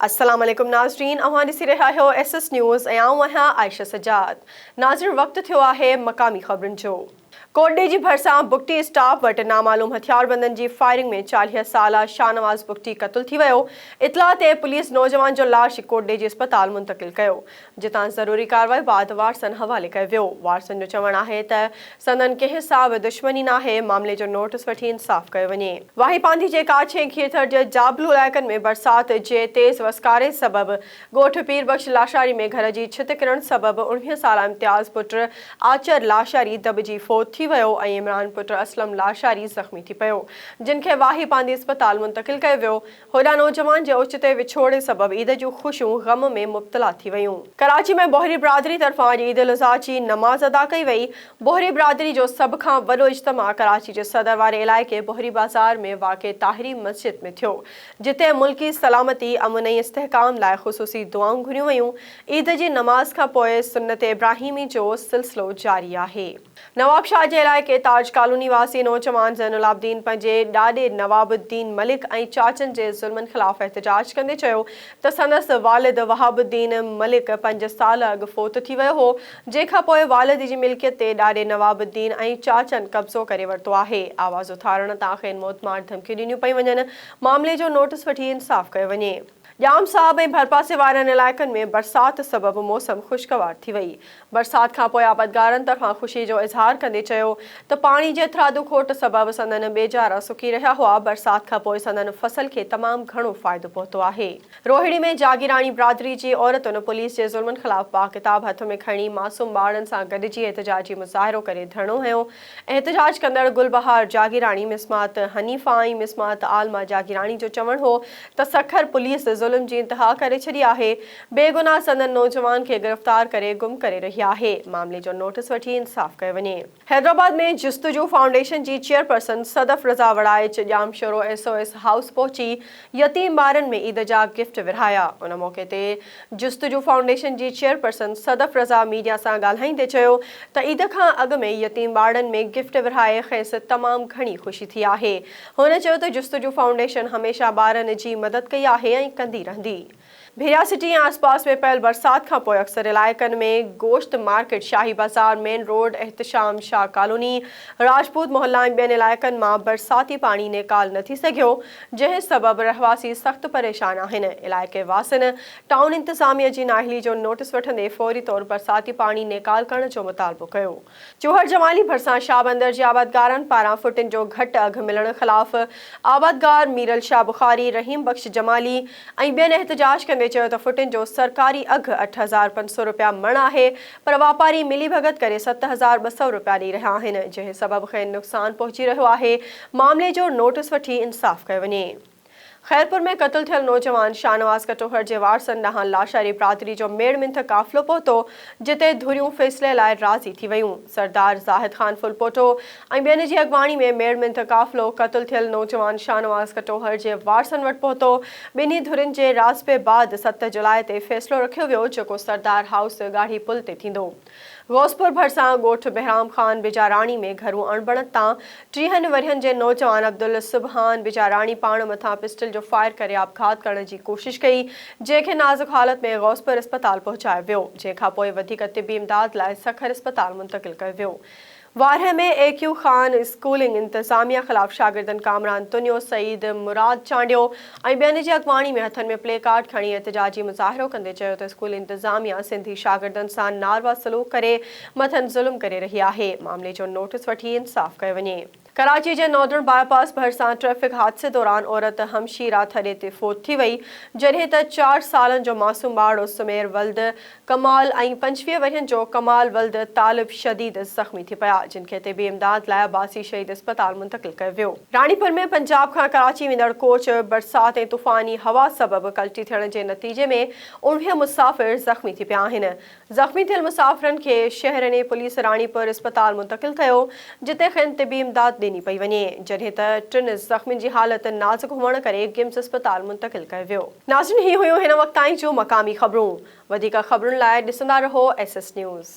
السلام عليڪم ناظرين اوهان ڏسي رهيا آهيو ايس ايس نيوز ۽ آئون آهيان عائشه سجاد ناظرين وقت ٿيو آهي مقامي خبرن جو ڪوٽڏيهه جي ڀرسان بگٽي اسٽاپ وٽ نامعلوم هٿياربندن جي فائرنگ ۾ چاليهه سالا شاهنواز بگٽي قتل ٿي ويو، اطلاع تي پوليس نوجوان جو لاش ڪوٽڏيهه جي اسپتال منتقل ڪيو، جتان ضروري ڪارروائي بعد وارثن حوالي ڪيو ويو، وارثن جو چوڻ آهي ته سندن ڪنهن سان به دشمني ناهي، معاملي جو نوٽس وٺي انصاف ڪيو وڃي. واهي پانڌي جي ڪاڇي ۽ کيرٿر جي جابلو علائقن ۾ برسات جي تيز وسڪاري سبب ڳوٺ پير بخش لاشاري ۾ گهر جي ڇت ڪرڻ سبب اڻويهه سالا امتياز پٽ آچر لاشاري دٻجي فوت ٿي ويو ۽ عمران پٽ اسلم لاشاري زخمي ٿي پيو جن کي واهي پانڌي اسپتال منتقل ڪيو ويو هوڏانهن نوجوان جي اوچتي وڇوڙي سبب عيد جون خوشيون غم ۾ مبتلا ٿي ويون. ڪراچي ۾ بوهري برادري طرفان اڄ عيد الاضحيٰ جي نماز ادا ڪئي وئي، بوهري برادري جو سڀ کان وڏو اجتماع ڪراچي جي صدر واري علائقي بوهري بازار ۾ واقع طاهري مسجد ۾ ٿيو، جتي ملڪي سلامتي، امن ۽ استحڪام لاء خصوصي دعائون گهريون ويون. عيد جي نماز کان پوء سنت ابراهيمي جو سلسلو جاري آهي. نوابشاهه جي علائقي تاج ڪالوني واسي نوجوان زين العابدين پنهنجي ڏاڏي نواب الدين ملڪ ۽ چاچن جي ظلمن خلاف احتجاج ڪندي چيو ته سندس والد وهاب الدين ملڪ پنج سال اڳ فوت ٿي ويو هو، جنهن کان پوء والد جي ملڪيت تي ڏاڏي نواب الدين ۽ چاچن قبضو ڪري ورتو آهي. آواز اٿارڻ تان کين موتمار ڌمڪيون ڏنيون پيون وڃن. معاملي جو نوٽس وٺي انصاف ڪيو وڃي. ڄام صاحب ۽ ڀرپاسي وارن علائقن ۾ برسات سبب موسم خوشگوار ٿي وئي. برسات کان پوء آبادگارن ته کان خوشي جو اظهار ڪندي چيو ته پاڻي جي هٿرادو کوٽ سبب سندن ٻيجارا سڪي رهيا هئا، برسات کان پوء سندن فصل کي تمام گهڻو فائدو پهتو آهي. روهڙي ۾ جاگيراڻي برادري جي عورتن پوليس جي ظلمن خلاف پاڪ ڪتاب هٿ ۾ کڻي معصوم ٻارڙن سان گڏجي احتجاجي مظاهرو ڪري ڌرڻو هنيو، احتجاج ڪندڙ گل بهار جاگيراڻي، مسمات حنيفه ۽ مسمات عالمه جاگيراڻي جو چوڻ هو ته سکر پوليس ظلم جي انتها ڪري ڇڏي آهي، بيگناهه سندن نوجوان کي گرفتار ڪري گم ڪري رهي آهي، معاملي جو نوٽس وٺي انصاف ڪيو وڃي. حيدرآباد ۾ جستجو فائونڊيشن جي chairperson Sadaf Raza Waraich Jamshoro S O S house پهچي يتيم ٻارن ۾ عيد جا گفٽ ورهايا. ان موقعي تي جستجو فائونڊيشن جي چيئرپرسن صدف رضا ميڊيا سان ڳالهائيندي چيو ته عيد کان اڳ ۾ يتيم ٻارڙن ۾ گفٽ ورهائي کيس تمام گهڻي خوشي ٿي آهي. هن چيو ته جستجو فائونڊيشن هميشه ٻارن جي مدد ڪئي آهي ۽ ڪندي رهندي. ڀيرا سٽي ۽ آسپاس ۾ پيل برسات کانپوء اڪثر علائقن ۾ گوشت market, Shahi Bazaar, main road, Ehtisham Shah colony, Rajput Mohalla ۽ ٻين علائقن مان برساتي پاڻي نيڪال نه ٿي سگهيو، جنهن سبب رهواسي سخت پريشان آهن، علائقي واسين ٽائون انتظاميه جي نااهلي جو نوٽيس وٺندي فوري طور برساتي پاڻي نيڪال ڪرڻ جو مطالبو ڪيو. جوهر جمالي ڀرسان شاهه بندر جي آبادگارن پاران ڦٽن جو گهٽ اگهه ملڻ خلاف آبادگار ميرل شاهه بخاري، رحيم بخش جمالي ۽ ٻين احتجاج ڪندي چيو ته ڦٽن جو سرڪاري اگهه اٺ هزار پنج سؤ رپيا مڻ آهي پر واپاري ملي ڀڳت ڪري ست هزار ٻه سؤ رپيا ڏئي رهيا آهن جنهن سبب کين نقصان پهچي رهيو آهي معاملي جو نوٽس وٺي انصاف ڪيو وڃي. خيرپور ۾ قتل ٿيل نوجوان شاهنواز کٽوهر جي وارثن ڏانهن لاشاري برادري جو ميڙ منٿ قافلو پهتو، جتي ڌريون فيصلي لاء راضي ٿي ويون. سردار زاهد خان ڦلپوٽو ۽ ٻين جي اڳواڻي ۾ ميڙ منٿ قافلو قتل ٿيل نوجوان شاهنواز کٽوهر جي وارثن وٽ پهتو. ٻنهي ڌرين جي راضپي بعد ست جولاء تي فيصلو رکيو ويو، جيڪو سردار هائوس ڳاڙهي پل تي ٿيندو. غوثپور ڀرسان ڳوٺ بهرام خان بجاراڻي ۾ گهرو اڻبڻت تان ٽيهن ورهين جي نوجوان عبدالسبحان بجاراڻي پاڻ مٿان پسٽل جو فائر ڪري آپگهات ڪرڻ جي ڪوشش ڪئي جنهن کي نازڪ حالت ۾ غوثپور اسپتال پهچايو ويو جنهن کانپوء وڌيڪ طبي امداد لاء سکر اسپتال منتقل ڪيو ويو وارهه ۾ اي ڪيو خان اسڪولنگ انتظاميه خلاف شاگردن ڪامران تنيو، سعيد مراد چانڊيو ۽ ٻين جي اڳواڻي ۾ هٿن ۾ پلي ڪارڊ کڻي احتجاجي مظاهرو ڪندي چيو ته اسڪول انتظاميه سنڌي شاگردن سان ناروا سلوڪ ڪري مٿن ظلم ڪري رهي آهي معاملي جو نوٽس وٺي انصاف ڪيو وڃي. ڪراچي جي ناردرن باء پاس ڀرسان ٽريفڪ حادثي دوران عورت همشيرا ٿڏي تي فوت ٿي وئي جڏهن ته چار سالن جو معصوم ٻارڙو سمير ولد ڪمال ۽ پنجويهه ورهين جو ڪمال ولد طالب شديد زخمي ٿي پيا، جن کي طبي امداد لاء عباسي شهيد اسپتال منتقل ڪيو ويو. راڻيپور ۾ پنجاب کان ڪراچي ويندڙ ڪوچ برسات ۽ طوفاني هوا سبب ڪلٽي ٿيڻ جي نتيجي ۾ اوڻويهه مسافر زخمي ٿي پيا آهن. زخمي ٿيل مسافرن کي شهرني پوليس راڻيپور اسپتال منتقل ڪيو، جتي کين طبي امداد ڏني پئي وڃي، جڏهن ته ٽن زخمين جي حالت نازڪ هئڻ ڪري گمز اسپتال منتقل ڪيو ويو. ناظرين هي هيون هن وقت تائين جون مقامي خبرون، وڌيڪ خبرن لاء ڏسندا رهو ايس ايس نيوز.